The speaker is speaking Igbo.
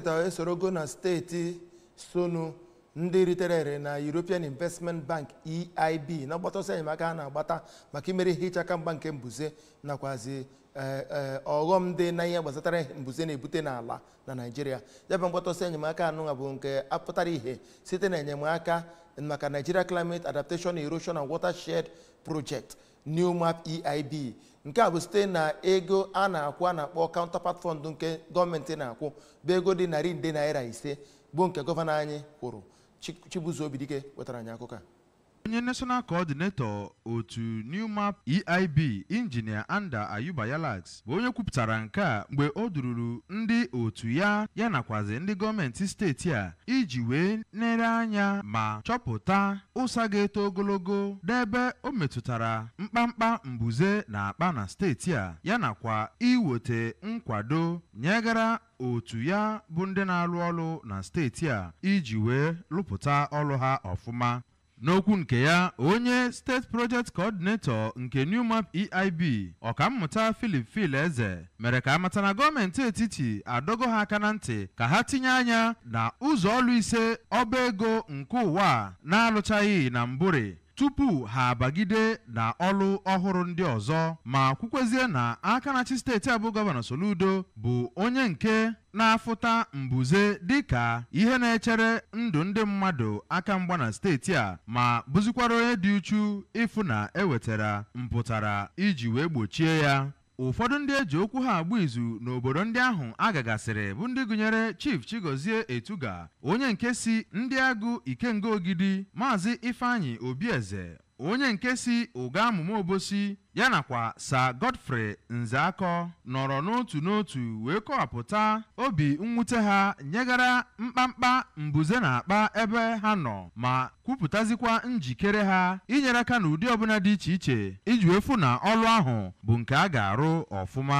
Steeti a esorogo na steeti so na ndị ritere ere na European Investment Bank EIB na mgbata ọsọ enyemaka ha na-agbata maka imeri ihe iche aka mgba nke mbuze nakwazi eh, eh, ọghọm dị na ihe gbasatara ihe mbuze na-ebute n'ala na Naịjirịa ya bụ mgbata ọsọ enyemaka anụnwa bụ nke apụtara ihe site na enyemaka maka Nigeria Climate Adaptation Erosion and Watershed Project NEWMAP EIB nke a bụ site na ego a na-akwụ a na-akpọ counterpart fund nke gọọmenti na-akwụ bụ ego dị narị nde naira ise bụ nke gọvanọ anyị kwụrụ Chi- Chibuzo Obidike wetara anyị akụkọ a onye national coordinator otu NEWMAP EIB injinia Anda Ayuba Yalaks bụ onye kwupụtara nke a mgbe o dururu ndị otu ya ya nakwazi ndị gọọmenti steeti a iji wee nere anya ma chọpụta ụsa ga-eto ogologo n'ebe o metụtara mkpamkpa mbuze na-akpa na steeti a ya nakwa iwete nkwado nyegara otu ya bụ ndị na-alụ ọlụ na steeti a iji wee lụpụta ọlụ ha ọfụma N'okwu nke ya, onye State Project Coordinator nke NEWMAP EIB, Ọkammụta Philip Phil-Eze, mere ka a mata na gọọmenti etiti adọgo ha aka na ntị ka ha tinye anya na ụzọ ọlụ ise ọba ego nke ụwa a na-alụchaghị na mbụrị tupu ha abagide na ọlụ ọhụrụ ndị ọzọ ma kwukwezie na aka na-achị steeti a bụ Gọvanọ Soludo bụ onye nke na-afụta mbuze dịka ihe na-echere ndụ ndị mmadụ aka mgba na steeti a ma bụzikwara onye dị uchu ịfụ na e wetara mpụtara iji wee gbochie ya ụfọdụ ndị e ji okwu ha agba izu n'obodo ndị ahụ a gagasịrị bụ ndị gụnyere Chief Chigozie Etuga onye nke si Ndịagụ Ikenga Ogidi Maazị Ifeanyi Obieze onye nke si Ụgamụma Obosi ya nakwa Sir Godfrey Nzeakọ nọrọ n'otu n'otu wee kọwapụta obi mwute ha nyegara mkpamkpa mbuze na-akpa ebe ha nọ ma kwupụtazikwa njikere ha inyere aka n'ụdị ọbụla dị iche iche iji wee fụ na ọrụ ahụ bụ nke a ga-arụ ọfụma.